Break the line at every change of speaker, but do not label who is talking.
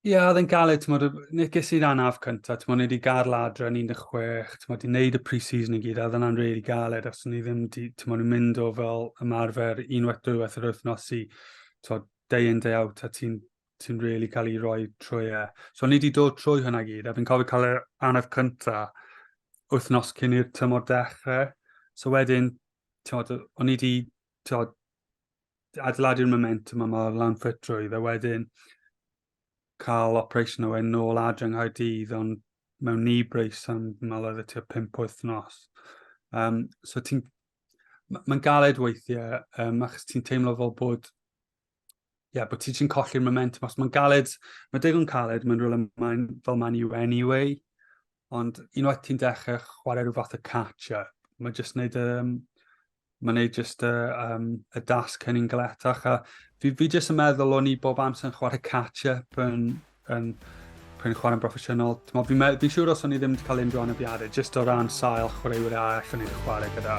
Ie, yeah, oedd yn galed, ti'n modd, neges i'r anaf cyntaf, ti'n modd, nid i gael ladra yn 16, ti'n modd, i wneud y pre-season i gyd, a ddyna'n rili really galed, os ni ddim, ti'n modd, yn mynd o fel ymarfer unwaith dwywaith yr wythnos i, ti'n modd, day in, day out, a ti'n ti'n rili really cael ei roi trwy e. So, ni wedi dod trwy hynna gyd, a fi'n cofio cael yr anaf cyntaf wythnos cyn i'r tymor dechrau. So, wedyn, ti'n modd, o'n i wedi, ti'n modd, adeiladu'r momentum yma o'r lan ffitrwydd a wedyn cael operation o wedyn nôl adre yng Nghaerdydd ond mewn ni brace am mal oedd y tua 5 wythnos. Um, so ti'n... Mae'n galed weithiau, um, achos ti'n teimlo fel bod ie, yeah, bod ti ti'n colli'r momentum. Os mae'n galed, mae digon caled, mae'n rhywle mae'n fel man you anyway. Ond unwaith ti'n dechrau chwarae rhyw fath o catch-up, mae jyst wneud y... Um, mae'n neud jyst y, um, y dasg hynny'n galetach. A fi, fi jyst yn meddwl o'n i bob amser yn chwarae catch-up yn, yn, yn chwarae yn broffesiynol. Fi'n fi siŵr os o'n i ddim wedi cael unrhyw anafiadau, jyst o ran sail chwaraewyr arall o'n i wedi chwarae gyda.